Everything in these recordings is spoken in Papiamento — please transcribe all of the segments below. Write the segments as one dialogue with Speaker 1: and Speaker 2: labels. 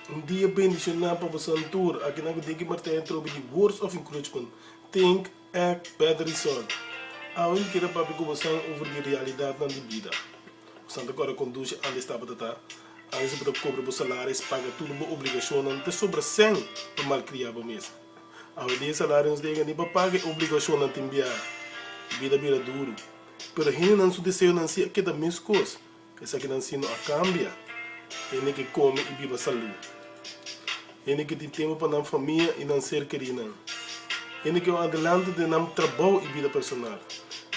Speaker 1: Un dia bendicioná pa bosan tur, akinan cu tin ki martaya tropi di words of encouragement, think, act, better result. Awe mi quier a papia cu bosan over di realidadnan di bida. Bosan ta cora conduci antes tabata ta, antes di bo ta cobra bo salaris, paga tur bo obligacionnan, ta sobra cen pa malcria bo mes. Awe dia e salario no ta yega ni pa paga e obligacionnan tin biaha. Bida bira duru. Pero hendenan su deseonan si a keda mescos, esaki nan si no a cambia. Hende ke come y biba salú. Hende ke tin tempo pa nan famia y nan ser kerinan. Hende ke ora adelante den nan trabou y bida personal.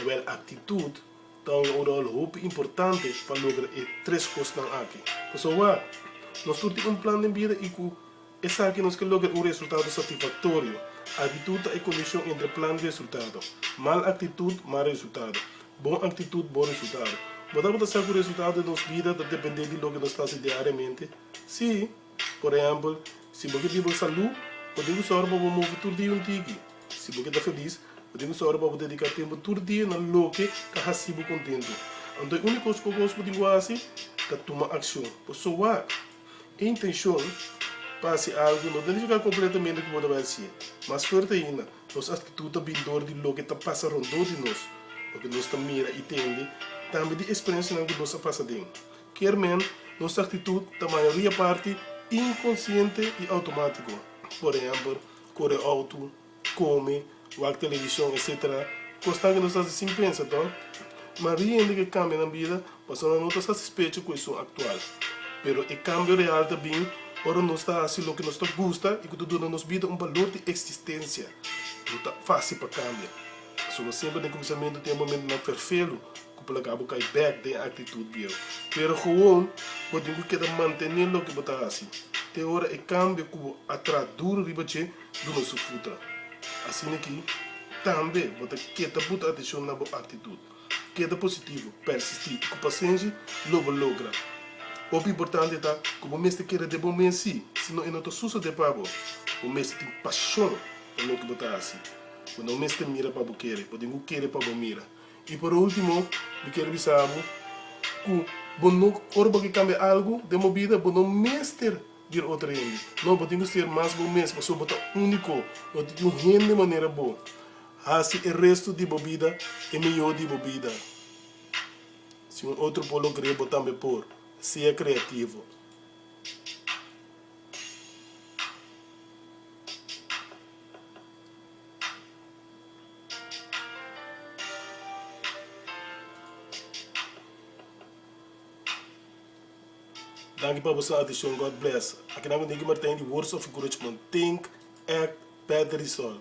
Speaker 1: Awel actitud ta un oral hopi importante pa logra e tres cosnan aki. Pasobra nos tur tin un plan den bida y cu. Esaki nos ke logra un resultado satisfaktorio. Aktitut ta e kondishon entre plan i resultado. Mal aktitut, mal resultado. Bon aktitut, bon resultado. Bo ta tabata sa ku resultado di nos bida ta dependé di loke nos ta hasi diariamente? Sí! Por ehèmpel, si bo ke biba ku salú, bo tin ku sòru pa bo move tur dia un tiki. Si bo ke ta felis, bo tin ku sòru pa bo dediká tempu tur dia na loke ta hasi bo kontentu. Anto e úniku kos ku bo tin ku hasi ta tuma akshon. Por sowak? Intencion pa haci algo no ta nifica completamente cu bo ta bay haci'e. Mas fuerte aina, nos actitud ta bin dor di loke ta pasa rondó di nos, loke nos ta mira y tende, tambe di experiencianan cu nos a pasa den. Kermen, nos actitud ta mayoria parti inconsciente y automatico. Por ehempel, core auto. Come, wak television, etc. Cosnan ke nos ta haci sin pensa to. Ma riende ke cambia nan bida pasobra nan no ta satisfecho cu esun actual. Pero e cambio real ta bin ora nos ta haci loke nos ta gusta y cu ta duna nos bida un balor di existencia. No ta facil pa cambia, pasobra semper den cuminsamentu tin e momentonan ferfelu cu por laga bo cay bek den e actitud bieu. Pero gewoon bo tin cu keda mantene loke bo ta haci te ora e cambio cu bo a traha duro riba dje. duna su futa. Asina ki, tambe bo ta ke ta buta atenshon na bo aktitut. Keda positivo, persistí i ku pasenshi lo bo logra. Hopi importante ta ku bo mester kere den bo men si, si no e no ta susede pa bo. Bo mester tin pashon pa loke bo ta hasi. Bo no mester mira pa bo kere, bo tin ku kere pa bo mira. I por ultimo, mi kier bisa bo ku bo no, ora bo ke kambia algu den bo bida, bo no mester. di e otro hende. No, bo tin cu ser mas bo mes pasobra bo ta unico. No tin tin hende manera bo. Haci e resto di bo bida e mihor di bo bida. Si un otro por lo crea, bo tambe por. Sea creativo. Daki pa bo sa adishon God bless. Aki nan kende ki martain di words of encouragement, think, act, perde result.